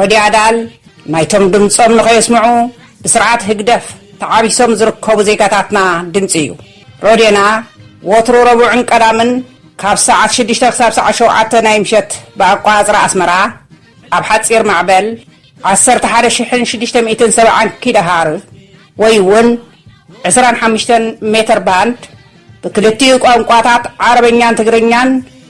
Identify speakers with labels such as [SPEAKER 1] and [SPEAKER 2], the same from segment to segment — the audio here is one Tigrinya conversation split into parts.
[SPEAKER 1] ረድዮ ኣዳል ናይቶም ድምጾም ንኸየስምዑ ብስርዓት ህግደፍ ተዓቢሶም ዝርከቡ ዜጋታትና ድምጺ እዩ። ረድዮና ወትሩ ረቡዕን ቀዳምን ካብ ሰዓት ሽዱሽተ ክሳብ ሰዓት ሸውዓተ ናይ ምሸት ብኣቆጻጽራ ኣስመራ ኣብ ሓጺር ማዕበል ዓሰርተ ሓደ ሽሕን ሽዱሽተ ሚእትን ሰብዓን ኪሎሃር ወይ እውን ዕስራን ሓሙሽተን ሜተር ባንድ ብክልቲኡ ቋንቋታት ዓረበኛን ትግርኛን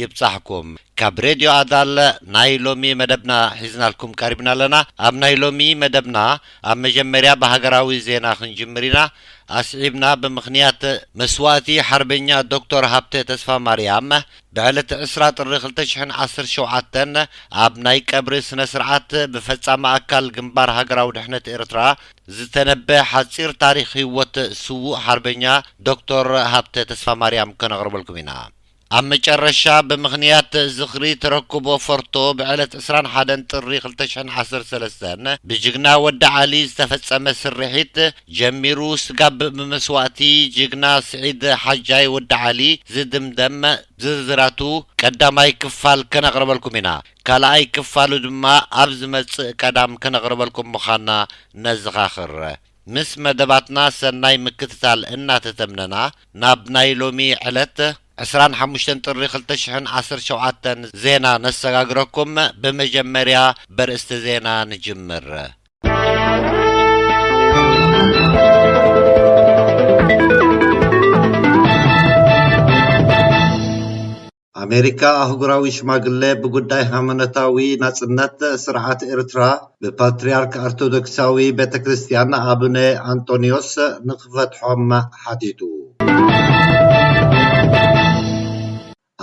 [SPEAKER 2] ይብጻሕኩም ካብ ሬድዮ ኣዳል ናይ ሎሚ መደብና ሒዝናልኩም ቀሪብና ኣለና ኣብ ናይ ሎሚ መደብና ኣብ መጀመርያ ብሃገራዊ ዜና ክንጅምር ኢና ኣስዒብና ብምኽንያት መስዋእቲ ሓርበኛ ዶክቶር ሃብተ ተስፋማርያም ብዕለት ዕስራ ጥሪ ክልተ ሽሕን ዓሰርተ ሸውዓተን ኣብ ናይ ቀብሪ ስነ ስርዓት ብፈጻሚ ኣካል ግንባር ሃገራዊ ድሕነት ኤርትራ ዝተነበ ሓጺር ታሪኽ ሂወት ስዉእ ሓርበኛ ዶክቶር ሃብተ ተስፋማርያም ከነቕርበልኩም ኢና ኣብ መጨረሻ ብምኽንያት ዝኽሪ ተረክቦ ፎርቶ ብዕለት ዕስራን ሓደን ጥሪ ክልተ ሽሕን ዓሰርተ ሰለስተን ብጅግና ወዲ ዓሊ ዝተፈፀመ ስርሒት ጀሚሩ ስጋብ ብመስዋእቲ ጅግና ስዒድ ሓጃይ ወዲ ዓሊ ዝድምደም ዝርዝራቱ ቀዳማይ ክፋል ከነቕርበልኩም ኢና። ካልኣይ ክፋሉ ድማ ኣብ ዝመፅእ ቀዳም ከነቕርበልኩም ምዃንና ነዘኻኽር። ምስ መደባትና ሰናይ ምክትታል እናተተምነና ናብ ናይ ሎሚ ዕለት ዕስራን ሓሙሽተን ጥሪ ክልተ ሽሕን ዓሰርተ ሸውዓተን ዜና ነሰጋግረኩም ብመጀመርያ በርእስቲ ዜና ንጅምር።
[SPEAKER 3] ኣሜሪካ ኣህጉራዊ ሽማግለ ብጉዳይ ሃይማኖታዊ ናጽነት ስርዓት ኤርትራ ብፓትርያርክ ኣርቶዶክሳዊ ቤተ ክርስትያን ኣቡነ ኣንጦንዮስ ንኽፈትሖም ሓቲቱ።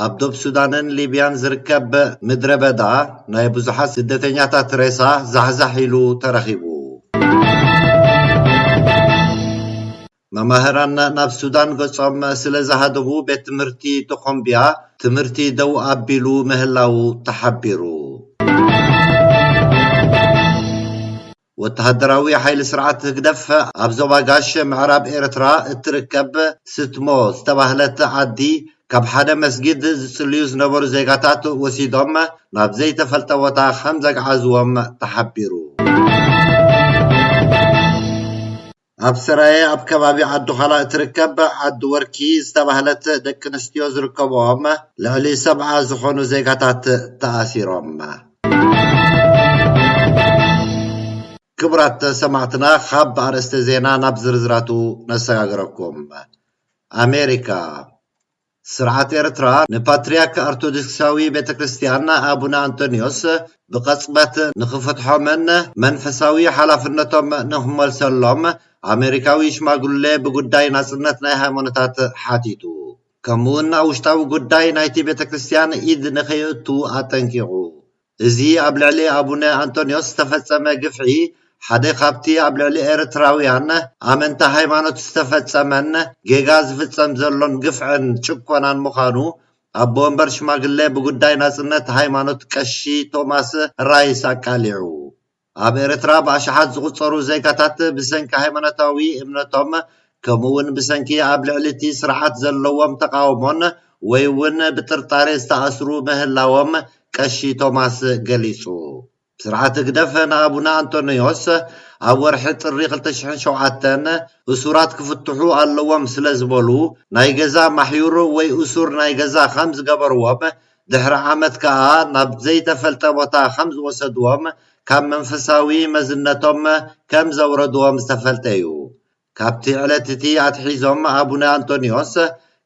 [SPEAKER 3] ኣብ ዶብ ሱዳንን ሊብያን ዝርከብ ምድረ በዳ ናይ ብዙሓት ስደተኛታት ሬሳ ዛሕዛሕ ኢሉ ተረኺቡ። መማህራን ናብ ሱዳን ገጾም ስለ ዝሃደሙ ቤት ትምህርቲ ቶኾምቢያ ትምህርቲ ደው ኣቢሉ ምህላዉ ተሓቢሩ። ወተሃደራዊ ሓይሊ ስርዓት ህግደፍ ኣብ ዞባ ጋሽ ምዕራብ ኤርትራ እትርከብ ስትሞ ዝተባህለት ዓዲ ካብ ሓደ መስጊድ ዝጽልዩ ዝነበሩ ዜጋታት ወሲዶም ናብ ዘይተፈልጠ ቦታ ከም ዘግዓዝዎም ተሓቢሩ። ኣብ ሰራየ ኣብ ከባቢ ዓዲዃላ እትርከብ ዓዲ ወርኪ ዝተባህለት ደቂ ኣንስትዮ ዝርከብኦም ልዕሊ ሰብዓ ዝኾኑ ዜጋታት ተኣሲሮም። ክቡራት ሰማዕትና ካብ ኣርእስተ ዜና ናብ ዝርዝራቱ ነሰጋግረኩም። ኣሜሪካ ስርዓት ኤርትራ ንፓትርያክ ኣርቶድክሳዊ ቤተ ክርስትያን ኣቡነ ኣንጦንዮስ ብቐጽበት ንኽፈትሖምን መንፈሳዊ ሓላፍነቶም ንኽመልሰሎም ኣመሪካዊ ሽማግሌ ብጉዳይ ናጽነት ናይ ሃይማኖታት ሓቲቱ ከምኡውን ኣብ ውሽጣዊ ጉዳይ ናይቲ ቤተ ክርስትያን ኢድ ንኸየእቱ ኣጠንቂቑ እዚ ኣብ ልዕሊ ኣቡነ ኣንቶንዮስ ዝተፈጸመ ግፍዒ ሓደ ካብቲ ኣብ ልዕሊ ኤርትራውያን ኣመንቲ ሃይማኖት ዝተፈጸመን ጌጋ ዝፍጸም ዘሎን ግፍዕን ጭኮናን ምዃኑ ኣቦ ወንበር ሽማግሌ ብጉዳይ ናጽነት ሃይማኖት ቀሺ ቶማስ ራይስ ኣቃሊዑ። ኣብ ኤርትራ ብኣሽሓት ዝቑጸሩ ዜጋታት ብሰንኪ ሃይማኖታዊ እምነቶም ከምኡ'ውን ብሰንኪ ኣብ ልዕሊ እቲ ስርዓት ዘለዎም ተቓውሞን ወይ'ውን ብጥርጣሬ ዝተኣስሩ ምህላዎም ቀሺ ቶማስ ገሊጹ። ስርዓት ህግደፍ ንኣቡነ ኣንጦንዮስ ኣብ ወርሒ ጥሪ ክልተ ሽሕን ሸውዓተን እሱራት ክፍትሑ ኣለዎም ስለዝበሉ ናይ ገዛ ማሕዩር ወይ እሱር ናይ ገዛ ከም ዝገበርዎም ድሕሪ ዓመት ከኣ ናብ ዘይተፈልጠ ቦታ ከም ዝወሰድዎም ካብ መንፈሳዊ መዝነቶም ከም ዘውረድዎም ዝተፈልጠ እዩ። ካብቲ ዕለት እቲ ኣትሒዞም ኣቡነ ኣንቶንዮስ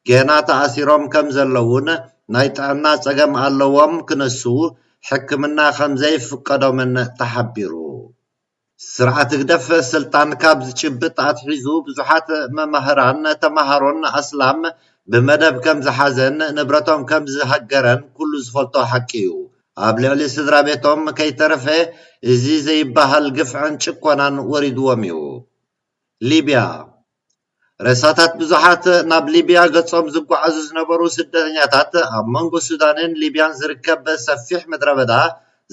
[SPEAKER 3] ገና ተኣሲሮም ከም ዘለዉን ናይ ጥዕና ጸገም ኣለዎም ክነሱ ሕክምና ከም ዘይፍቀዶምን ተሓቢሩ። ስርዓት ህግደፍ ስልጣን ካብ ዝጭብጥ ኣትሒዙ ብዙሓት መማህራን ተማሃሮን ኣስላም ብመደብ ከም ዝሓዘን ንብረቶም ከም ዝሃገረን ኩሉ ዝፈልጦ ሓቂ እዩ። ኣብ ልዕሊ ስድራቤቶም ከይተረፈ እዚ ዘይበሃል ግፍዕን ጭኮናን ወሪድዎም እዩ። ሊብያ። ሬሳታት ብዙሓት ናብ ሊብያ ገጾም ዝጓዓዙ ዝነበሩ ስደተኛታት ኣብ መንጎ ሱዳንን ሊብያን ዝርከብ ሰፊሕ ምድረበዳ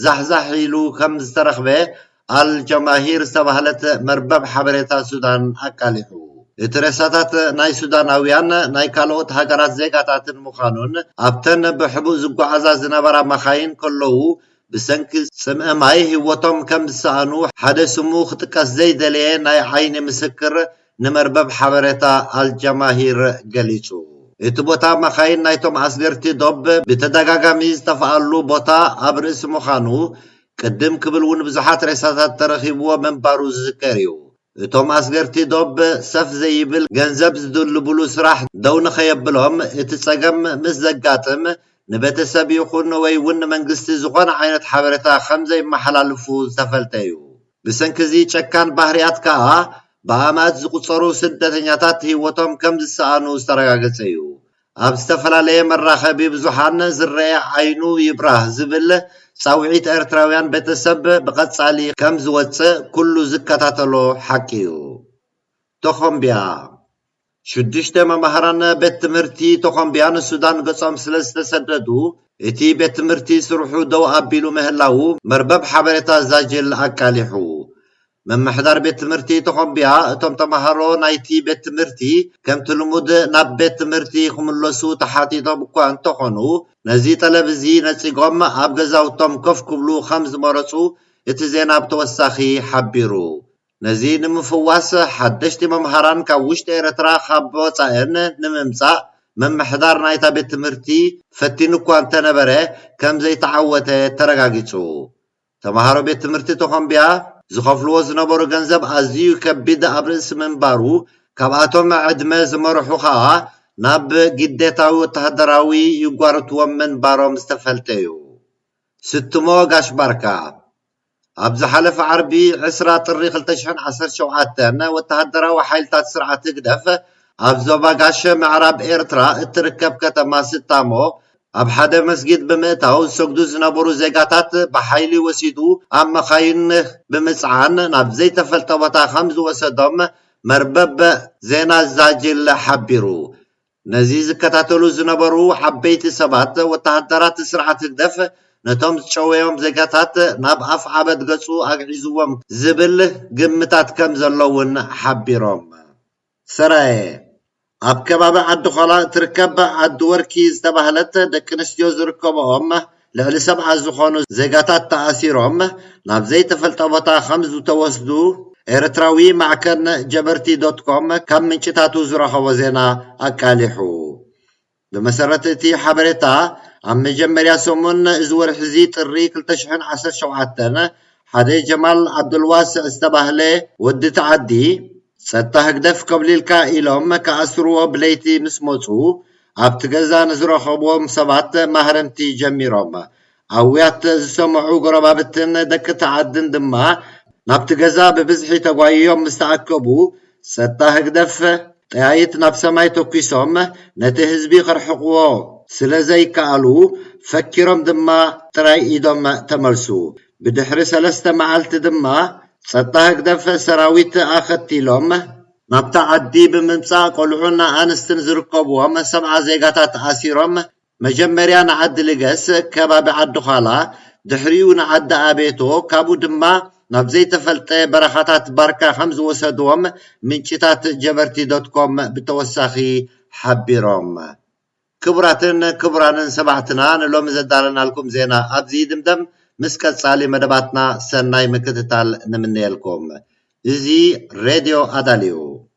[SPEAKER 3] ዛሕዛሕ ኢሉ ከም ዝተረኽበ ኣል ጀማሂር ዝተባህለት መርበብ ሓበሬታ ሱዳን ኣቃሊዑ። እቲ ሬሳታት ናይ ሱዳናውያን ናይ ካልኦት ሃገራት ዜጋታትን ምዃኑን ኣብተን ብሕቡእ ዝጓዓዛ ዝነበራ መኻይን ከለዉ ብሰንኪ ጽምኢ ማይ ህይወቶም ከም ዝሰኣኑ ሓደ ስሙ ክጥቀስ ዘይደለየ ናይ ዓይኒ ምስክር ንመርበብ ሓበሬታ ኣልጃማሂር ገሊጹ። እቲ ቦታ መኻይን ናይቶም ኣስገርቲ ዶብ ብተደጋጋሚ ዝጠፍኣሉ ቦታ ኣብ ርእሲ ምዃኑ፣ ቅድም ክብል'ውን ብዙሓት ሬሳታት ተረኺብዎ ምንባሩ ዝዝከር እዩ። እቶም ኣስገርቲ ዶብ ሰፍ ዘይብል ገንዘብ ዝድልቡሉ ስራሕ ደው ንኸየብሎም እቲ ፀገም ምስ ዘጋጥም ንቤተሰብ ይኹን ወይ እውን ንመንግስቲ ዝኾነ ዓይነት ሓበሬታ ከምዘይመሓላልፉ ዝተፈልጠ እዩ። ብሰንኪ እዚ ጨካን ባህሪያት ከዓ ብኣማእት ዝቑፀሩ ስደተኛታት ህይወቶም ከምዝሰኣኑ ዝተረጋገፀ እዩ። ኣብ ዝተፈላለየ መራኸቢ ብዙሓን ዝረኣ ዓይኑ ይብራህ ዝብል ጻውዒት ኤርትራውያን ቤተሰብ ብቐጻሊ ከም ዝወጽእ ኩሉ ዝከታተሎ ሓቂ'ዩ። ቶኾምቢያ፣ ሽዱሽተ መማህራን ቤት ትምህርቲ ቶኾምቢያ ንሱዳን ገጾም ስለ ዝተሰደዱ፣ እቲ ቤት ትምህርቲ ስርሑ ደው ኣቢሉ ምህላዉ መርበብ ሓበሬታ ዛጅል ኣቃሊሑ። ምምሕዳር ቤት ትምህርቲ ቶኾምቢያ እቶም ተምሃሮ ናይቲ ቤት ትምህርቲ ከምቲ ልሙድ ናብ ቤት ትምህርቲ ክምለሱ ተሓቲቶም እኳ እንተኾኑ ነዚ ጠለብ እዚ ነጺጎም ኣብ ገዛውቶም ኮፍ ክብሉ ከም ዝመረጹ እቲ ዜና ብተወሳኺ ሓቢሩ። ነዚ ንምፍዋስ ሓደሽቲ መምሃራን ካብ ውሽጢ ኤርትራ ካብ ወጻእን ንምምጻእ ምምሕዳር ናይታ ቤት ትምህርቲ ፈቲኑ እኳ እንተነበረ ከም ዘይተዓወተ ተረጋጊጹ ተማሃሮ ቤት ትምህርቲ ቶኾምቢያ ዝኸፍልዎ ዝነበሩ ገንዘብ ኣዚዩ ከቢድ ኣብ ርእሲ ምንባሩ ካብኣቶም ዕድመ ዝመርሑ ከኣ ናብ ግዴታዊ ወተሃደራዊ ይጓርትዎም ምንባሮም ዝተፈልጠ'ዩ። ስትሞ ጋሽ ባርካ ኣብ ዝሓለፈ ዓርቢ ዕስራ ጥሪ ክልተ ሽሕን ዓሰርተ ሸውዓተን ወተሃደራዊ ሓይልታት ስርዓት ህግደፍ ኣብ ዞባ ጋሽ ምዕራብ ኤርትራ እትርከብ ከተማ ስታሞ ኣብ ሓደ መስጊድ ብምእታው ዝሰግዱ ዝነበሩ ዜጋታት ብሓይሊ ወሲዱ ኣብ መኻይን ብምጽዓን ናብ ዘይተፈልጠ ቦታ ከምዝወሰዶም መርበብ ዜና ዛጂል ሓቢሩ። ነዚ ዝከታተሉ ዝነበሩ ዓበይቲ ሰባት ወተሃደራት ስርዓት ህግደፍ ነቶም ዝጨወዮም ዜጋታት ናብ ኣፍዓበት ገጹ ኣግዒዝዎም ዝብል ግምታት ከምዘሎ'ውን ሓቢሮም። ሰራየ ኣብ ከባቢ ዓዲ ኾላ እትርከብ ዓዲ ወርኪ ዝተባህለት ደቂ ኣንስትዮ ዝርከብኦም ልዕሊ ሰብዓ ዝኾኑ ዜጋታት ተኣሲሮም ናብ ዘይተፈልጠ ቦታ ከምዝተወስዱ ኤርትራዊ ማዕከን ጀበርቲ ዶት ኮም ካብ ምንጭታቱ ዝረኸቦ ዜና ኣቃሊሑ። ብመሰረት እቲ ሓበሬታ፣ ኣብ መጀመርያ ሰሙን እዚ ወርሒ'ዚ ጥሪ ክልተ ሽሕን ዓሰርተ ሸውዓተን፣ ሓደ ጀማል ዓብዱልዋስዕ ዝተባህለ ወዲ እቲ ዓዲ፣ ጸጥታ ህግደፍ ኮብሊልካ ኢሎም ክኣስርዎ ብለይቲ ምስ መጹ፣ ኣብቲ ገዛ ንዝረኸብዎም ሰባት ማህረምቲ ጀሚሮም። ኣውያት ዝሰምዑ ጎረባብትን ደቂ'ቲ ዓድን ድማ ናብቲ ገዛ ብብዝሒ ተጓይዮም ምስ ተኣከቡ፣ ጸጥታ ህግደፍ ጠያይት ናብ ሰማይ ተኲሶም ነቲ ህዝቢ ከርሕቕዎ ስለ ዘይከኣሉ፣ ፈኪሮም ድማ ጥራይ ኢዶም ተመልሱ። ብድሕሪ ሰለስተ መዓልቲ ድማ ጸጥታ ህግደፍ ሰራዊት ኣኸቲሎም፣ ናብታ ዓዲ ብምምጻእ ቆልዑን ኣንስትን ዝርከብዎም ሰብዓ ዜጋታት ኣሲሮም መጀመርያ ንዓዲ ልገስ ከባቢ ዓዲ ዃላ ድሕሪኡ ንዓዲ ኣቤቶ ካብኡ ድማ ናብ ዘይተፈልጠ በረኻታት ባርካ ከምዝወሰድዎም ምንጭታት ጀበርቲ ዶት ኮም ብተወሳኺ ሓቢሮም። ክቡራትን ክቡራንን ሰማዕትና ንሎሚ ዘዳለናልኩም ዜና ኣብዚ ይድምደም ምስ ቀጻሊ መደባትና ሰናይ ምክትታል ንምነየልኩም። እዚ ሬድዮ ኣዳል እዩ።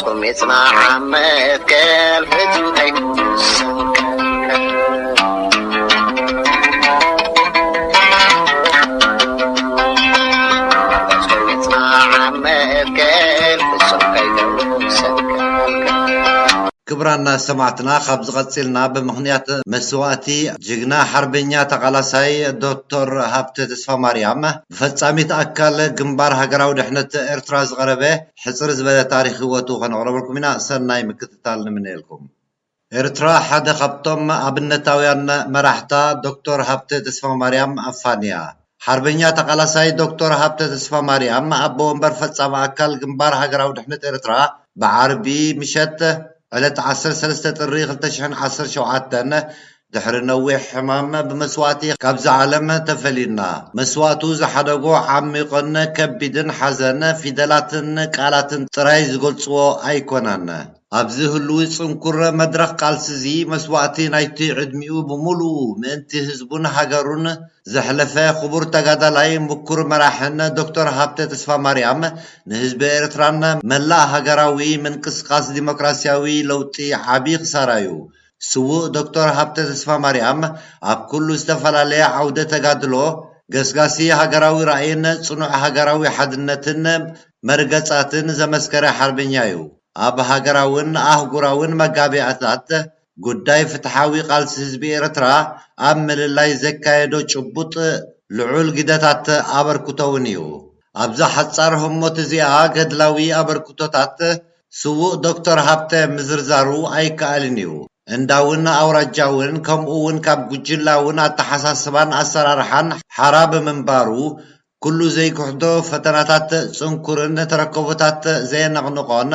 [SPEAKER 4] ጹም
[SPEAKER 3] ይጽናሕ ኣብ መትከል ፍጹም ከይከውን ሰንከልከል ክብራና ሰማዕትና ካብዚ ቀጺልና ብምኽንያት መስዋእቲ ጅግና ሓርበኛ ተቓላሳይ ዶቶር ሃብተ ተስፋማርያም ብፈጻሚት ኣካል ግንባር ሃገራዊ ድሕነት ኤርትራ ዝቐረበ ሕጽር ዝበለ ታሪኽ ህይወቱ ከነቕረበልኩም ኢና ሰናይ ምክትታል ንምነየልኩም። ኤርትራ ሓደ ካብቶም ኣብነታውያን መራሕታ ዶክቶር ሃብተ ተስፋማርያም ኣፋንያ። ሓርበኛ ተቓላሳይ ዶክቶር ሃብተ ተስፋማርያም ኣቦ ወንበር ፈጻሚ ኣካል ግንባር ሃገራዊ ድሕነት ኤርትራ ብዓርቢ ምሸት ዕለት ዓሰርተ ሰለስተ ጥሪ ክልተ ሽሕን ዓሰርተ ሸውዓተን ድሕሪ ነዊሕ ሕማም ብመስዋእቲ ካብዛ ዓለም ተፈሊና መስዋእቱ ዝሓደጎ ዓሚቕን ከቢድን ሓዘን ፊደላትን ቃላትን ጥራይ ዝገልጽዎ ኣይኮነን። ኣብዚ ህሉዊ ጽንኩር መድረኽ ቃልሲ'ዚ መስዋእቲ ናይቲ ዕድሚኡ ብምሉኡ ምእንቲ ህዝቡን ሃገሩን ዘሕለፈ ክቡር ተጋዳላይ ምኩር መራሕን ዶክተር ሃብተ ተስፋማርያም ንህዝቢ ኤርትራን መላእ ሃገራዊ ምንቅስቓስ ዲሞክራስያዊ ለውጢ ዓቢ ክሳራ'ዩ ስዉእ ዶክተር ሃብተ ተስፋማርያም ኣብ ኩሉ ዝተፈላለየ ዓውደ ተጋድሎ ገስጋሲ ሃገራዊ ራእይን ጽኑዕ ሃገራዊ ሓድነትን መርገጻትን ዘመስከረ ሓርበኛ'ዩ። ኣብ ሃገራውን ኣህጉራውን መጋብያታት ጉዳይ ፍትሓዊ ቃልሲ ህዝቢ ኤርትራ ኣብ ምልላይ ዘካየዶ ጭቡጥ ልዑል ግደታት ኣበርክቶ'ውን'ዩ። ኣብዛ ሓጻር ህሞት እዚኣ ገድላዊ ኣበርክቶታት ስዉእ ዶክተር ሃብተ ምዝርዛሩ ኣይከኣልን እዩ። እንዳውን ኣውራጃውን ከምኡውን ካብ ጉጅላውን ኣተሓሳስባን ኣሰራርሓን ሓራ ብምንባሩ፣ ኩሉ ዘይክሕዶ ፈተናታት ጽንኩርን ተረከቦታት ዘየነቕንቖን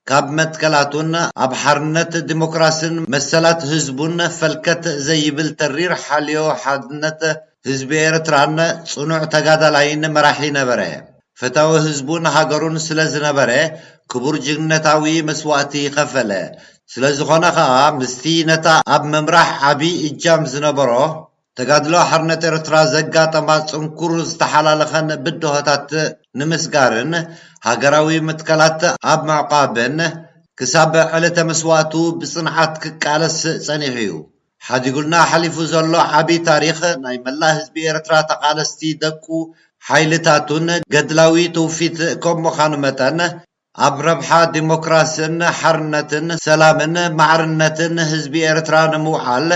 [SPEAKER 3] ካብ መትከላቱን ኣብ ሓርነት፣ ዲሞክራስን መሰላት ህዝቡን ፈልከት ዘይብል ተሪር ሓልዮ ሓድነት ህዝቢ ኤርትራን ጽኑዕ ተጋዳላይን መራሒ ነበረ። ፈታዊ ህዝቡን ሃገሩን ስለ ዝነበረ ክቡር ጅግንነታዊ መስዋእቲ ከፈለ። ስለ ዝኾነ ከኣ ምስቲ ነታ ኣብ ምምራሕ ዓቢ እጃም ዝነበሮ ተጋድሎ ሓርነት ኤርትራ ዘጋጠማ ጽንኩር ዝተሓላለኸን ብድሆታት ንምስጋርን ሃገራዊ መትከላት ኣብ ምዕቛብን ክሳብ ዕለተ መስዋእቱ ብጽንዓት ክቃለስ ጸኒሑ'ዩ። ሓዲጉልና ሓሊፉ ዘሎ ዓቢ ታሪኽ ናይ መላእ ህዝቢ ኤርትራ ተቃለስቲ ደቁ ሓይልታቱን ገድላዊ ትውፊት ከም ምኻኑ መጠን ኣብ ረብሓ ዲሞክራስን ሓርነትን ሰላምን ማዕርነትን ህዝቢ ኤርትራ ንምውዓል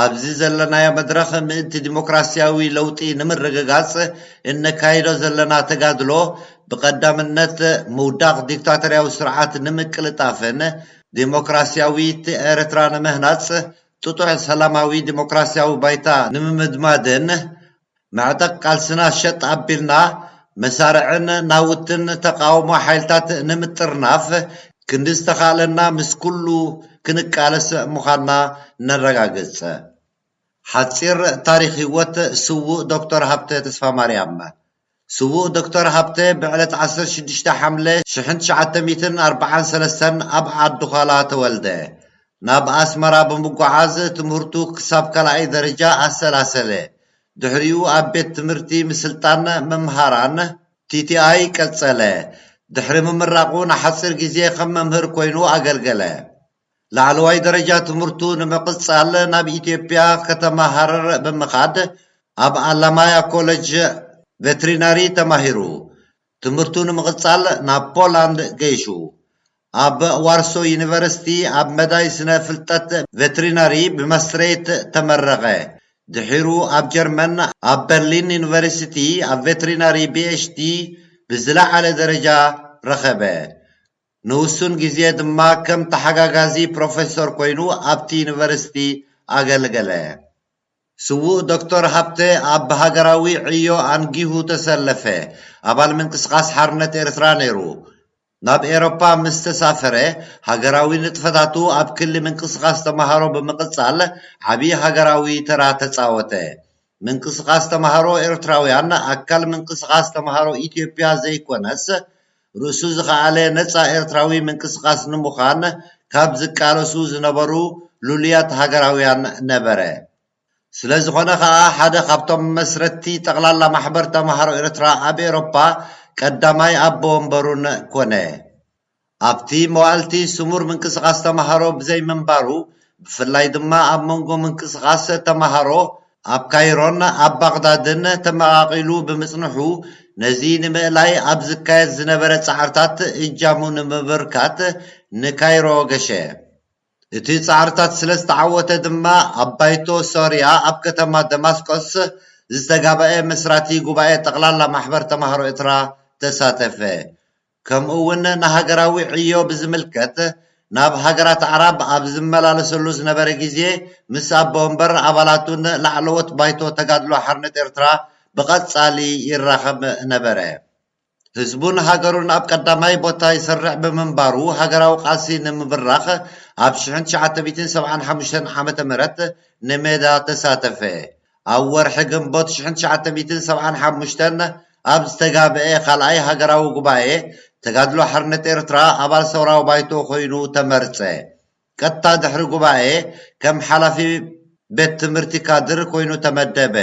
[SPEAKER 3] ኣብዚ ዘለናዮ መድረኽ ምእንቲ ዲሞክራስያዊ ለውጢ ንምርግጋጽ እነካይዶ ዘለና ተጋድሎ ብቀዳምነት ምውዳቕ ዲክታቶርያዊ ስርዓት ንምቅልጣፍን ዴሞክራሲያዊት ኤርትራ ንምህናጽ፣ ጥጡሕ ሰላማዊ ዴሞክራሲያዊ ባይታ ንምምድማድን፣ መዕጠቕ ቃልስና ሸጥ ኣቢልና፣ መሳርዕን ናውትን ተቓውሞ ሓይልታት ንምጥርናፍ፣ ክንዲ ዝተኻእለና ምስ ኩሉ ክንቃለስ ምዃንና ነረጋግጽ። ሓጺር ታሪኽ ህይወት ስዉእ ዶክተር ሃብተ ተስፋማርያም። ስዉእ ዶክተር ሃብተ ብዕለት ዓሰርተ ሽዱሽተ ሓምለ ሽሕን ትሽዓተ ሚእትን ኣርብዓን ሰለስተን ኣብ ዓዲዃላ ተወልደ። ናብ ኣስመራ ብምጉዓዝ ትምህርቱ ክሳብ ካልኣይ ደረጃ ኣሰላሰለ። ድሕሪኡ ኣብ ቤት ትምህርቲ ምስልጣን መምሃራን፣ TTI፣ ቀጸለ። ድሕሪ ምምራቑ ንሓጺር ግዜ ከም መምህር ኮይኑ ኣገልገለ። ላዕለዋይ ደረጃ ትምህርቱ ንምቕጻል ናብ ኢትዮጵያ ከተማ ሃረር ብምኻድ ኣብ ኣላማያ ኮለጅ ቨትሪናሪ ተማሂሩ። ትምህርቱ ንምቕጻል ናብ ፖላንድ ገይሹ። ኣብ ዋርሶ ዩኒቨርሲቲ ኣብ መዳይ ስነ ፍልጠት ቨትሪናሪ ብመስትሬት ተመረቐ። ድሒሩ ኣብ ጀርመን ኣብ በርሊን ዩኒቨርሲቲ ኣብ ቨትሪናሪ ቢኤችዲ ብዝለዓለ ደረጃ ረኸበ። ንውሱን ግዜ ድማ ከም ተሓጋጋዚ ፕሮፌሶር ኮይኑ ኣብቲ ዩኒቨርሲቲ ኣገልገለ። ስዉእ ዶክተር ሃብተ ኣብ ብሃገራዊ ዕዮ ኣንጊሁ ተሰለፈ፣ ኣባል ምንቅስቓስ ሓርነት ኤርትራ ነይሩ። ናብ ኤሮፓ ምስ ተሳፈረ፣ ሃገራዊ ንጥፈታቱ ኣብ ክሊ ምንቅስቓስ ተማሃሮ ብምቕጻል ዓቢ ሃገራዊ ተራ ተጻወተ። ምንቅስቓስ ተማሃሮ ኤርትራውያን ኣካል ምንቅስቓስ ተማሃሮ ኢትዮጵያ ዘይኮነስ ርእሱ ዝኸኣለ ነጻ ኤርትራዊ ምንቅስቓስ ንምዃን ካብ ዝቃለሱ ዝነበሩ ልሉያት ሃገራውያን ነበረ። ስለዝኾነ ከኣ ሓደ ካብቶም መስረትቲ ጠቕላላ ማሕበር ተማሃሮ ኤርትራ ኣብ ኤሮፓ ቀዳማይ ኣቦ ወንበሩን ኮነ። ኣብቲ መዋዕልቲ ስሙር ምንቅስቓስ ተማሃሮ ብዘይምንባሩ፣ ብፍላይ ድማ ኣብ መንጎ ምንቅስቓስ ተማሃሮ ኣብ ካይሮን ኣብ ባቕዳድን ተመቓቒሉ ብምጽንሑ፣ ነዚ ንምእላይ ኣብ ዝካየድ ዝነበረ ጻዕርታት እጃሙ ንምብርካት ንካይሮ ገሸ። እቲ ጻዕርታት ስለ ዝተዓወተ ድማ ኣብ ባይቶ ሶርያ ኣብ ከተማ ደማስቆስ ዝተጋበኤ መስራቲ ጉባኤ ጠቕላላ ማሕበር ተማሃሮ ኤትራ ተሳተፈ። ከምኡ እውን ንሃገራዊ ዕዮ ብዝምልከት ናብ ሃገራት ኣዕራብ ኣብ ዝመላለሰሉ ዝነበረ ግዜ ምስ ኣቦ ወንበር ኣባላቱን ላዕለዎት ባይቶ ተጋድሎ ሓርነት ኤርትራ ብቐጻሊ ይራኸብ ነበረ። ህዝቡን ሃገሩን ኣብ ቀዳማይ ቦታ ይሰርዕ ብምንባሩ ሃገራዊ ቃልሲ ንምብራኽ ኣብ ሽሕን ትሽዓተ ሚእትን ሰብዓን ሓሙሽተን ዓመተ ምህረት ንሜዳ ተሳተፈ። ኣብ ወርሒ ግንቦት ሽሕን ትሽዓተ ሚእትን ሰብዓን ሓሙሽተን ኣብ ዝተጋብኤ ካልኣይ ሃገራዊ ጉባኤ ተጋድሎ ሓርነት ኤርትራ ኣባል ሰውራዊ ባይቶ ኮይኑ ተመርጸ። ቀጥታ ድሕሪ ጉባኤ ከም ሓላፊ ቤት ትምህርቲ ካድር ኮይኑ ተመደበ።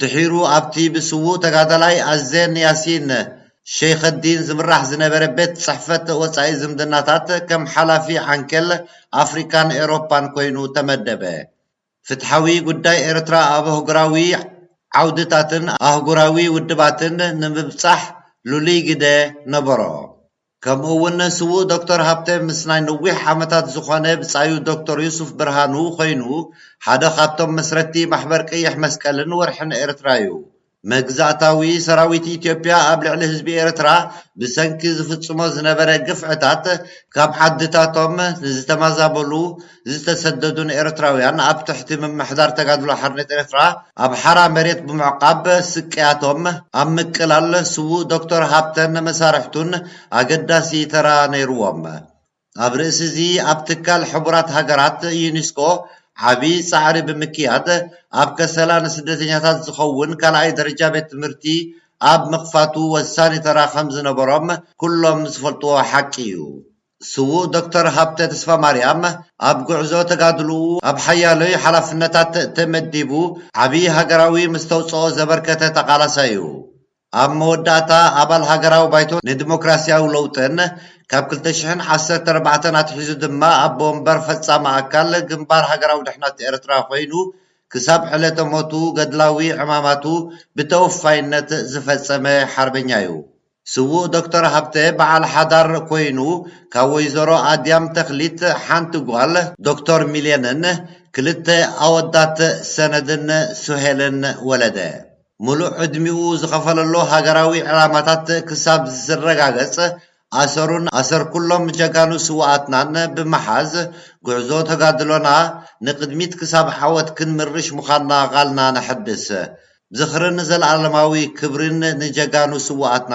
[SPEAKER 3] ድሒሩ ኣብቲ ብስዉእ ተጋዳላይ ኣዜን ያሲን ሸይኸዲን ዝምራሕ ዝነበረ ቤት ጽሕፈት ወጻኢ ዝምድናታት ከም ሓላፊ ዓንኬል ኣፍሪቃን ኤሮፓን ኮይኑ ተመደበ። ፍትሓዊ ጉዳይ ኤርትራ ኣብ ኣህጉራዊ ዓውድታትን ኣህጉራዊ ውድባትን ንምብጻሕ ልሉይ ግደ ነበሮ። ከምኡ'ውን ስዉእ ዶክተር ሃብተ ምስ ናይ ነዊሕ ዓመታት ዝኾነ ብጻዩ ዶክተር ዩሱፍ ብርሃኑ ኮይኑ ሓደ ካብቶም መስረትቲ ማሕበር ቀይሕ መስቀልን ወርሕን ኤርትራ'ዩ። መግዛእታዊ ሰራዊት ኢትዮጵያ ኣብ ልዕሊ ህዝቢ ኤርትራ ብሰንኪ ዝፍጽሞ ዝነበረ ግፍዕታት ካብ ዓድታቶም ንዝተማዛበሉ ዝተሰደዱን ኤርትራውያን ኣብ ትሕቲ ምምሕዳር ተጋድሎ ሓርነት ኤርትራ ኣብ ሓራ መሬት ብምዕቛብ ስቅያቶም ኣብ ምቅላል ስዉእ ዶክተር ሃብተን መሳርሕቱን ኣገዳሲ ተራ ነይሩዎም። ኣብ ርእሲ'ዚ ኣብ ትካል ሕቡራት ሃገራት፣ ዩኒስኮ፣ ዓቢ ጻዕሪ ብምክያድ፣ ኣብ ከሰላ ንስደተኛታት ዝኸውን ካልኣይ ደረጃ ቤት ትምህርቲ ኣብ ምኽፋቱ ወሳኒ ተራ ከም ዝነበሮም ኩሎም ዝፈልጥዎ ሓቂ እዩ። ስዉእ ዶክተር ሃብተ ተስፋማርያም ኣብ ጉዕዞ ተጋድሎኡ ኣብ ሓያሎይ ሓላፍነታት ተመዲቡ ዓቢ ሃገራዊ መስተውጽኦ ዘበርከተ ተቓላሳይ'ዩ። ኣብ መወዳእታ ኣባል ሃገራዊ ባይቶ ንዲሞክራስያዊ ለውጥን፣ ካብ ክልተ ሽሕን ዓሰርተ ኣርባዕተን ኣትሒዙ ድማ ኣቦ ወንበር ፈጻሚ ኣካል ግንባር ሃገራዊ ድሕነት ኤርትራ ኮይኑ ክሳብ ዕለተ ሞቱ ገድላዊ ዕማማቱ ብተወፋይነት ዝፈጸመ ሓርበኛ'ዩ። ስዉእ ዶክተር ሃብተ በዓል ሓዳር ኮይኑ ካብ ወይዘሮ ኣድያም ተኽሊት ሓንቲ ጓል ዶክተር ሚልየንን ክልተ ኣወዳት ሰነድን ሱሄልን ወለደ። ምሉእ ዕድሚኡ ዝኸፈለሉ ሃገራዊ ዕላማታት ክሳብ ዝረጋገጽ ኣሰሩን ኣሰር ኩሎም ጀጋኑ ስውኣትናን ብምሓዝ ጉዕዞ ተጋድሎና ንቅድሚት ክሳብ ዓወት ክንምርሽ ምዃንና ቓልና ነሐድስ። ዝኽርን ዘልኣለማዊ ክብሪን ንጀጋኑ ስውኣትና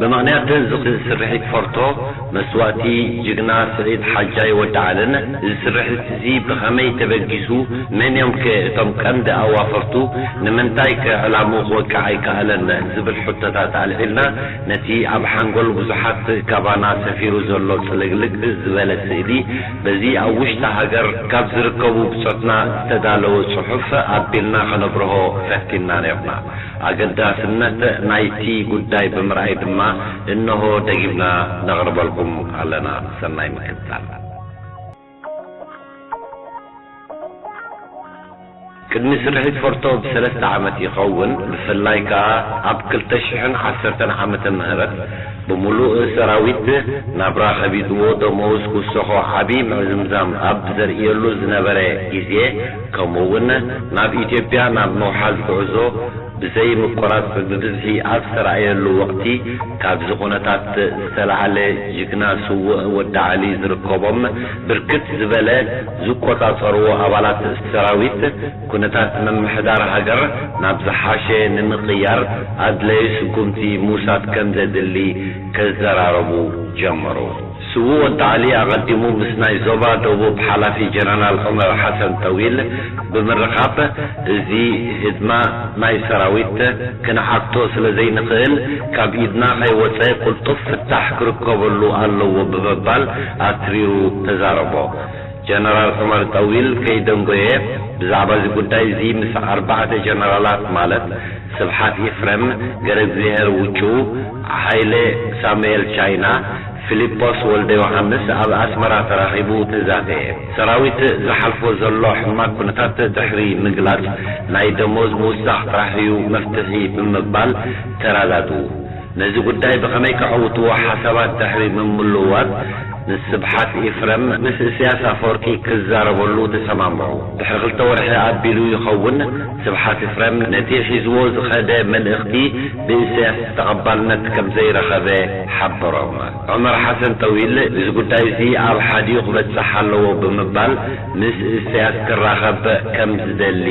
[SPEAKER 5] ብምኽንያት ዝኽ ስርሒት ፎርቶ መስዋእቲ ጅግና ስዒድ ሓጃይ ወዲ ዓልን እዚ ስርሒት እዚ ብኸመይ ተበጊሱ መን እዮም ከ እቶም ቀንዲ ኣዋፈርቱ ንምንታይ ከ ዕላምኡ ክወቅዕ ኣይከኣለን ዝብል ሕቶታት ኣልዒልና ነቲ ኣብ ሓንጎል ብዙሓት ካባና ሰፊሩ ዘሎ ጽልግልግ ዝበለ ስእሊ በዚ ኣብ ውሽጢ ሃገር ካብ ዝርከቡ ብጾትና ዝተዳለወ ጽሑፍ ኣቢልና ከነብርሆ ፈቲንና ኔርና። ኣገዳስነት ናይቲ ጉዳይ ብምርኣይ ድማ እነሆ ደጊምና ነቕርበልኩም ኣለና። ሰናይ ምክትታል። ቅድሚ ስርሒት ፎርቶ ብሰለስተ ዓመት ይኸውን ብፍላይ ከኣ ኣብ ክልተ ሽሕን ዓሰርተን ዓመተ ምህረት ብምሉእ ሰራዊት ናብራ ከቢድዎ ደመወዝ ክውሰኾ ዓቢ ምዕዝምዛም ኣብ ዘርእየሉ ዝነበረ ግዜ ከምኡ እውን ናብ ኢትዮጵያ ናብ ምውሓዝ ጉዕዞ ብዘይ ምቁራፅ ብብዝሒ ኣብ ዝተራእየሉ ወቕቲ ካብዚ ኩነታት ዝተላዓለ ጅግና ስውእ ወዲ ዓሊ ዝርከቦም ብርክት ዝበለ ዝቆፃፀርዎ ኣባላት ሰራዊት ኩነታት ምምሕዳር ሃገር ናብ ዝሓሸ ንምቕያር ኣድላዩ ስጉምቲ ምውሳድ ከምዘድሊ ክዘራረቡ ጀመሩ። ስዉእ ወዲ ዓሊ ኣቐዲሙ ምስ ናይ ዞባ ደቡብ ሓላፊ ጀነራል ዑመር ሓሰን ጠዊል ብምርኻብ እዚ ህድማ ናይ ሰራዊት ክንዓግቶ ስለ ዘይንኽእል ካብ ኢድና ከይወጸ ቅልጡፍ ፍታሕ ክርከበሉ ኣለዎ ብምባል ኣትሪሩ ተዛረቦ። ጀነራል ዑመር ጠዊል ከይደንጎየ ብዛዕባ እዚ ጉዳይ እዚ ምስ ኣርባዕተ ጀነራላት ማለት ስብሓት ኢፍረም፣ ገረግዚሀር ውጩ፣ ሃይለ ሳሙኤል ቻይና፣ ፊሊጶስ ወልደዮሓንስ ኣብ ኣስመራ ተራኺቡ ተዛተየ። ሰራዊት ዝሓልፎ ዘሎ ሕማግ ኩነታት ድሕሪ ምግላጽ፣ ናይ ደሞዝ ምውሳኽ ጥራሕ'ዩ መፍትሒ ብምባል ተረዳድኡ። ነዚ ጉዳይ ብኸመይ ከዐውትዎ ሓሳባት ድሕሪ ምምልዋጥ፣ ምስ ስብሓት ኤፍረም ምስ እስያስ ኣፈወርቂ ክዛረበሉ ተሰማምዑ። ድሕሪ ክልተ ወርሒ ኣቢሉ ይኸውን፣ ስብሓት ኤፍረም ነቲ ሒዝዎ ዝኸደ መልእኽቲ፣ ብኢሰያስ ተቐባልነት ከምዘይረኸበ ሓበሮም። ዑመር ሓሰን ጠዊል እዚ ጉዳይ'ዚ ኣብ ሓዲኡ ክበጽሕ ኣለዎ ብምባል ምስ ኢሰያስ ክራኸብ ከም ዝደሊ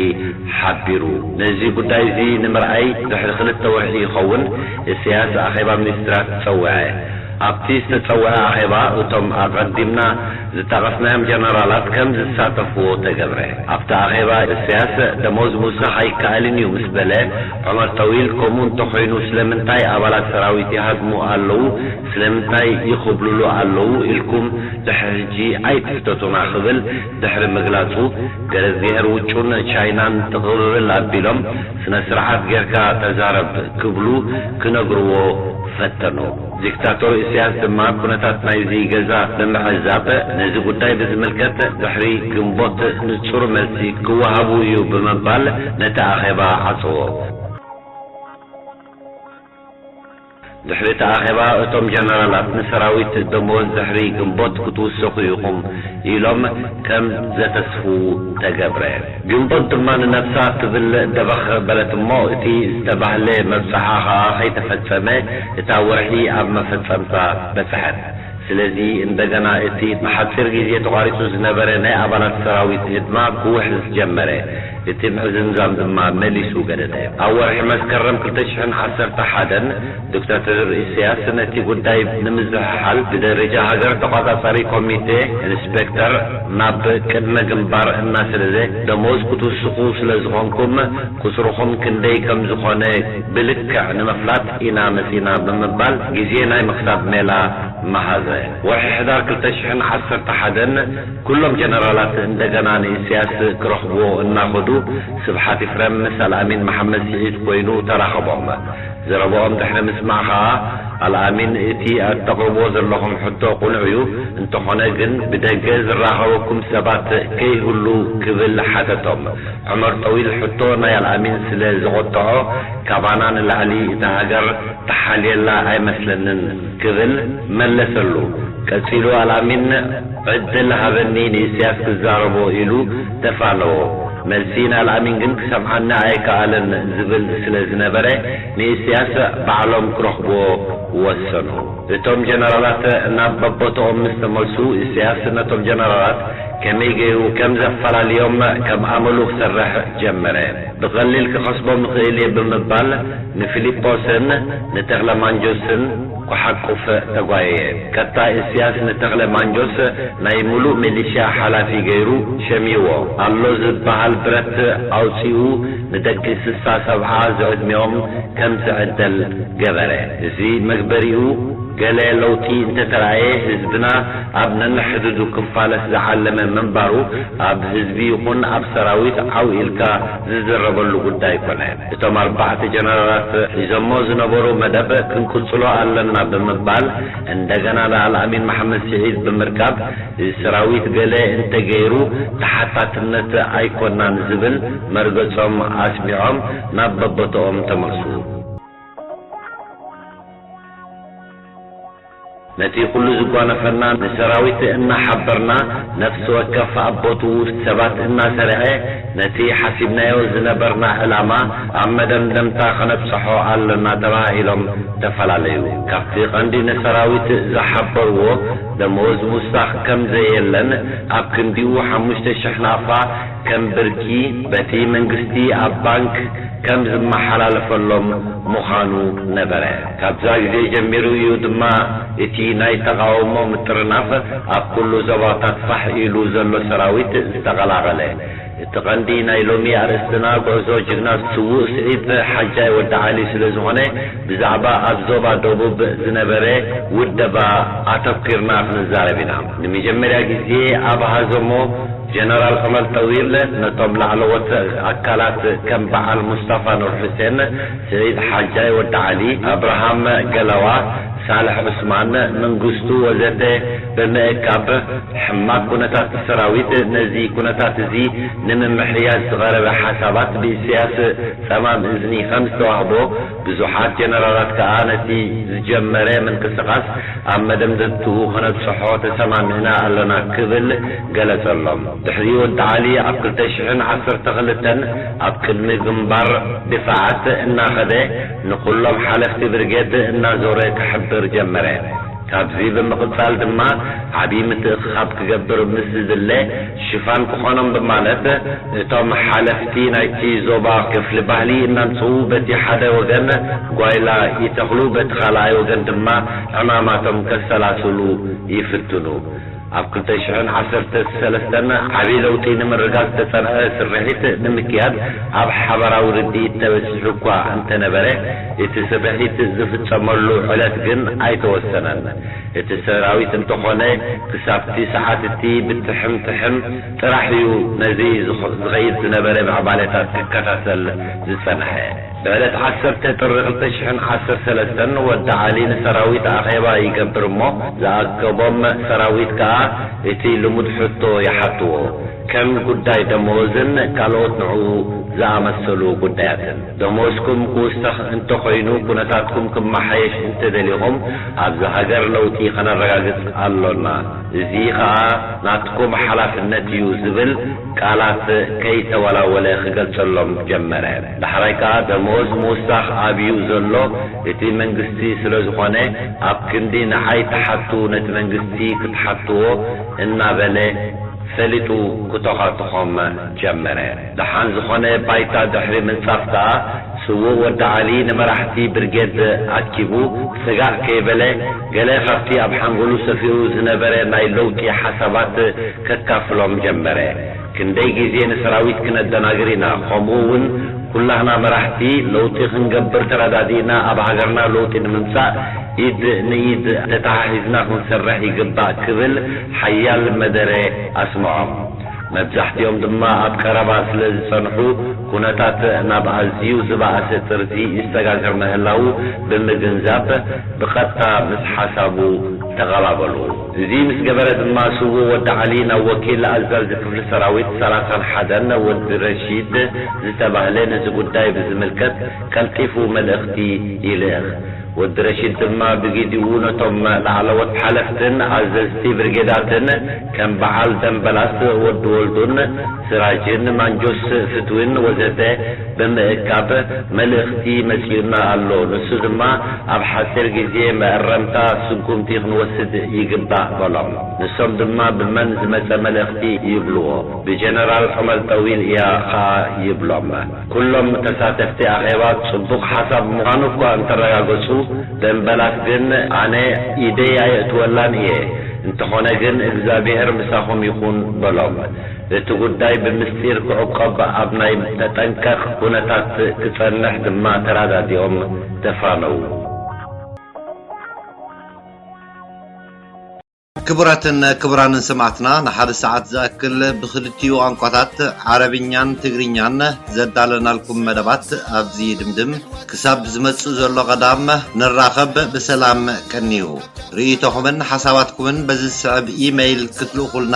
[SPEAKER 5] ሓቢሩ። ነዚ ጉዳይ'ዚ ንምርኣይ ድሕሪ ክልተ ወርሒ ይኸውን ኢሰያስ ኣኼባ ሚኒስትራት ጸውዐ። ኣብቲ ዝተጸውዐ ኣኼባ እቶም ኣቐዲምና ዝጠቐስናዮም ጀነራላት ከም ዝሳተፍዎ ተገብረ። ኣብቲ ኣኼባ ኢሰያስ ደሞዝ ምውሳኽ ኣይከኣልን እዩ ምስ በለ፣ ዑመር ጠዊል፣ ከምኡ እንተኾይኑ ስለምንታይ ኣባላት ሰራዊት ይሃድሙ ኣለዉ፣ ስለምንታይ ይኹብልሉ ኣለዉ ኢልኩም ድሕሪ ሕጂ ኣይትሕተቱና ክብል ድሕሪ ምግላጹ፣ ገረዝጊሀር ውጩን ቻይናን ጥቕብብል ኣቢሎም ስነ-ስርዓት ጌርካ ተዛረብ ክብሉ ክነግርዎ ፈተኑ። ዲክታቶር ኢሳያስ ድማ ኩነታት ናይዚ ገዛ ብምዕዛብ ነዚ ጉዳይ ብዝምልከት ድሕሪ ግንቦት ንጹር መልሲ ክወሃቡ እዩ ብምባል ነቲ ኣኼባ ዓጸዎ። ድሕሪ እቲ ኣኼባ እቶም ጀነራላት ንሰራዊት ደሞዝ ድሕሪ ግንቦት ክትውሰኹ ኢኹም ኢሎም ከም ዘተስፍዉ ተገብረ። ግንቦት ድማ ንነብሳ ክብል ደበኽ በለት እሞ እቲ ዝተባህለ መብጽዓ ከኣ ከይተፈጸመ እታ ወርሒ ኣብ መፈጸምታ በጽሐት። ስለዚ እንደገና እቲ ንሓጺር ግዜ ተቋሪጹ ዝነበረ ናይ ኣባላት ሰራዊት ህድማ ክውሕዝ ጀመረ። እቲ ምዕዝምዛም ድማ መሊሱ ገደደ። ኣብ ወርሒ መስከረም ክልተ ሽሕን ዓሰርተ ሓደን፣ ዶክተር ኢሰያስ ነቲ ጉዳይ ንምዝሕሓል ብደረጃ ሃገር ተቋጻጻሪ ኮሚቴ ኢንስፔክተር ናብ ቅድመ ግንባር እናሰደደ ደሞዝ ክትውስኹ ስለ ዝኾንኩም ቁጽርኹም ክንደይ ከም ዝኾነ ብልክዕ ንምፍላጥ ኢና መጺእና ብምባል ግዜ ናይ ምኽሳብ ሜላ መሃዘ። ወርሒ ሕዳር ክልተ ሽሕን ዓሰርተ ሓደን ኩሎም ጀነራላት እንደገና ንኢሰያስ ክረኽብዎ እናኸዱ ስብሓት ኢፍረም ምስ ኣልኣሚን መሓመድ ስዒድ ኮይኑ ተራኸቦም። ዘረባኦም ድሕሪ ምስማዕ ከኣ ኣልኣሚን እቲ ኣተቕርብዎ ዘለኹም ሕቶ ቁኑዕ እዩ እንተኾነ ግን ብደገ ዝራኸበኩም ሰባት ከይህሉ ክብል ሓተቶም ዑመር ጠዊል ሕቶ ናይ ኣልኣሚን ስለ ዘቖጠዖ ካባና ንላዕሊ እታ ሃገር ትሓልየላ ኣይመስለንን ክብል መለሰሉ ቀጺሉ ኣልኣሚን ዕድል ሃበኒ ንኢሰያስ ክዛረቦ ኢሉ ተፋነዎ መልሲ ንኣልኣሚን ግን ክሰምዓኒ ኣይከኣለን ዝብል ስለ ዝነበረ ንኢስያስ ባዕሎም ክረኽቡዎ ወሰኑ። እቶም ጀነራላት ናብ በቦትኦም ምስ ተመልሱ ኢስያስ ነቶም ጀነራላት ከመይ ገይሩ ከም ዘፈላልዮም ከም ኣመሉ ክሰርሕ ጀመረ። ብቐሊል ክኸስቦም እኽእል እየ ብምባል ንፊሊጶስን ንተኽለማንጆስን፣ ኩሓቁፍ ተጓየየ። ቀጣይ እስያስ ንተኽለ ማንጆስ ናይ ምሉእ ሚሊሽያ ሓላፊ ገይሩ ሸሚዎ። ኣሎ ዝበሃል ብረት ኣውጺኡ ንደቂ ስሳ ሰብዓ ዝዕድሚኦም ከም ዝዕደል ገበረ። እዚ መግበሪኡ ገለ ለውጢ እንተተራእየ ህዝብና ኣብ ነንሕድዱ ክፋለስ ዝዓለመ ምንባሩ ኣብ ህዝቢ ይኹን ኣብ ሰራዊት ዓው ኢልካ ዝዝረበሉ ጉዳይ ኮነ። እቶም ኣርባዕተ ጀነራላት ሒዞሞ ዝነበሩ መደብ ክንቅፅሎ ኣለና ብምባል እንደገና ንኣልኣሚን መሓመድ ስዒድ ብምርካብ እዚ ሰራዊት ገለ እንተገይሩ ተሓታትነት ኣይኮናን ዝብል መርገፆም ኣስሚዖም ናብ በቦትኦም ተመልሱ። ነቲ ኩሉ ዝጓነፈና ንሰራዊት እናሓበርና ነፍሲ ወከፍ ኣብ ቦትኡ ሰባት እናሰርዔ ነቲ ሓሲብናዮ ዝነበርና ዕላማ ኣብ መደምደምታ ከነብጸሖ ኣሎና ተባሃሂሎም ተፈላለዩ። ካብቲ ቀንዲ ንሰራዊት ዝሓበርዎ ደመወዝ ምውሳኽ ከም ዘየለን ኣብ ክንዲኡ ሓሙሽተ ሽሕ ናቕፋ ከም ብርኪ በቲ መንግስቲ ኣብ ባንክ ከም ዝመሓላለፈሎም ምዃኑ ነበረ። ካብዛ ግዜ ጀሚሩ እዩ ድማ እቲ ናይ ተቓውሞ ምጥርናፍ ኣብ ኩሉ ዞባታት ፋሕ ኢሉ ዘሎ ሰራዊት ዝተቐላቐለ። እቲ ቀንዲ ናይ ሎሚ ኣርእስትና ጉዕዞ ጅግና ስዉእ ስዒድ ሓጃይ ወዲ ዓሊ ስለዝኾነ ብዛዕባ ኣብ ዞባ ደቡብ ዝነበረ ውደባ ኣተኲርና ክንዛረብ ኢና። ንመጀመርያ ግዜ ኣብ ሃዘሞ ጀነራል ዑመር ጠዊል ነቶም ላዕለዎት ኣካላት ከም በዓል ሙስጣፋ ኑርሑሴን፣ ሰይድ ሓጃይ ወዲ ዓሊ፣ ኣብርሃም ገላዋ፣ ሳልሕ ዑስማን፣ መንግስቱ ወዘተ ብምእካብ ሕማቅ ኩነታት ሰራዊት ነዚ ኩነታት እዚ ንምምሕያሽ ዝቀረበ ሓሳባት ብኢሰያስ ጸማም እዝኒ ከም ዝተዋህቦ ብዙሓት ጀነራላት ከኣ ነቲ ዝጀመረ ምንቅስቃስ ኣብ መደምደምትኡ ከነብጽሖ ተሰማሚዕና ኣለና ክብል ገለጸሎም። ድሕሪ ወዲ ዓሊ ኣብ ክልተ ሽሕን ዓሰርተ ክልተን ኣብ ቅድሚ ግንባር ድፋዓት እናኸደ ንኹሎም ሓለፍቲ ብርጌድ እናዞረ ክሕብር ጀመረ። ካብዚ ብምቕጻል ድማ ዓቢ ምትእኽኻብ ክገብር ምስ ዝድለ ሽፋን ክኾኖም ብማለት እቶም ሓለፍቲ ናይቲ ዞባ ክፍሊ ባህሊ እናምጽኡ በቲ ሓደ ወገን ጓይላ ይተኽሉ በቲ ካልኣይ ወገን ድማ ዕማማቶም ከሰላስሉ ይፍትኑ። ኣብ ክልተ ሽሕን ዓሰርተ ሰለስተን ዓብይ ለውጢ ንምርጋፅ ዝተፀንዐ ስርሒት ንምክያድ ኣብ ሓበራዊ ርድኢት ተበፂሑ እኳ እንተነበረ እቲ ስርሒት ዝፍፀመሉ ዕለት ግን ኣይተወሰነን። እቲ ሰራዊት እንተኾነ ክሳብቲ ሰዓት እቲ ብትሕም ትሕም ጥራሕ እዩ ነዚ ዝኸይድ ዝነበረ ምዕባለታት ክከታተል ዝፀንሐ። ብዕለት ዓሰርተ ጥሪ ክልተ ሽሕን ዓሰርተ ሰለስተን ወዲ ዓሊ ንሰራዊት ኣኼባ ይገብር እሞ ዝኣከቦም ሰራዊት ከኣ እቲ ልሙድ ሕቶ ይሓትዎ ከም ጉዳይ ደመወዝን ካልኦት ንዕኡ ዝኣመሰሉ ጉዳያትን። ደመወዝኩም ክውሰኽ እንተኾይኑ ኩነታትኩም ክመሓየሽ እንተደሊኹም ኣብዚ ሃገር ለውጢ ከነረጋግጽ ኣሎና እዚ ከኣ ናትኩም ሓላፍነት እዩ ዝብል ቃላት ከይተወላወለ ክገልጸሎም ጀመረ። ዳሕራይ ከኣ ደመወዝ ምውሳኽ ኣብዩ ዘሎ እቲ መንግስቲ ስለዝኾነ ኣብ ክንዲ ንዓይ ትሓቱ ነቲ መንግስቲ ክትሓትዎ እናበለ ፈሊጡ ክቶኻቶኾም ጀመረ። ደሓን ዝኾነ ባይታ ድሕሪ ምንጻፍ ከኣ ስዉእ ወዲ ዓሊ ንመራሕቲ ብርጌድ ኣኪቡ ስጋእ ከይበለ ገለ ካብቲ ኣብ ሓንጎሉ ሰፊሩ ዝነበረ ናይ ለውጢ ሓሳባት ከካፍሎም ጀመረ። ክንደይ ግዜ ንሰራዊት ክነደናግር ኢና ከምኡ ውን ኩላህና መራሕቲ ለውጢ ክንገብር ተራዳዲእና ኣብ ሃገርና ለውጢ ንምምጻእ ኢድ ንኢድ ተታሓሒዝና ክንሰርሕ ይግባእ ክብል ሓያል መደረ ኣስምዖም መብዛሕቲኦም ድማ ኣብ ቀረባ ስለ ዝጸንሑ ኩነታት ናብ ኣዝዩ ዝባኣሰ ጥርዚ ይሰጋገር ምህላዉ ብምግንዛብ ብቀጥታ ምስ ሓሳቡ ተቀባበሉ። እዚ ምስ ገበረ ድማ ስዉእ ወዲ ዓሊ ናብ ወኪል ኣዘዚ ክፍሊ ሰራዊት ሰላሳን ሓደን ወዲ ረሺድ ዝተባህለ ነዚ ጉዳይ ብዝምልከት ቀልጢፉ መልእኽቲ ይልእኽ። ወዲ ረሺድ ድማ ብጊዚኡ ነቶም ላዕለዎት ሓለፍትን ኣዘዝቲ ብርጌዳትን ከም በዓል ደምበላስ ወዲ ወልዱን ስራጅን ማንጁስ ፍትዊን ወዘተ ብምእካብ መልእኽቲ መጺኡና ኣሎ። ንሱ ድማ ኣብ ሓጺር ግዜ መእረምታ ስጉምቲ ክንወስድ ይግባእ በሎም። ንሶም ድማ ብመን ዝመጸ መልእኽቲ ይብልዎ። ብጀነራል ዑመር ጠዊል እያ ኸኣ ይብሎም። ኩሎም ተሳተፍቲ ኣኼባ ጽቡቕ ሓሳብ ምዃኑ እኳ እንተረጋገጹ ደምበላት ግን ኣነ ኢደይ ኣየእትወላን እየ። እንተኾነ ግን እግዝኣቢሄር ምሳኹም ይኹን በሎም። እቲ ጉዳይ ብምስጢር ክዕቆብ ኣብ ናይ ተጠንቀቕ ኩነታት ክጸንሕ ድማ ተራዳዲኦም ተፋነዉ።
[SPEAKER 3] ክቡራትን ክቡራንን ሰማዕትና ንሓደ ሰዓት ዝኣክል ብኽልቲኡ ቋንቋታት ዓረብኛን ትግርኛን ዘዳለናልኩም መደባት ኣብዚ ይድምድም። ክሳብ ዝመጽእ ዘሎ ቀዳም ንራኸብ ብሰላም ቀንዩ። ርእይቶኹምን ሓሳባትኩምን በዚ ዝስዕብ ኢመይል ክትልእኹልና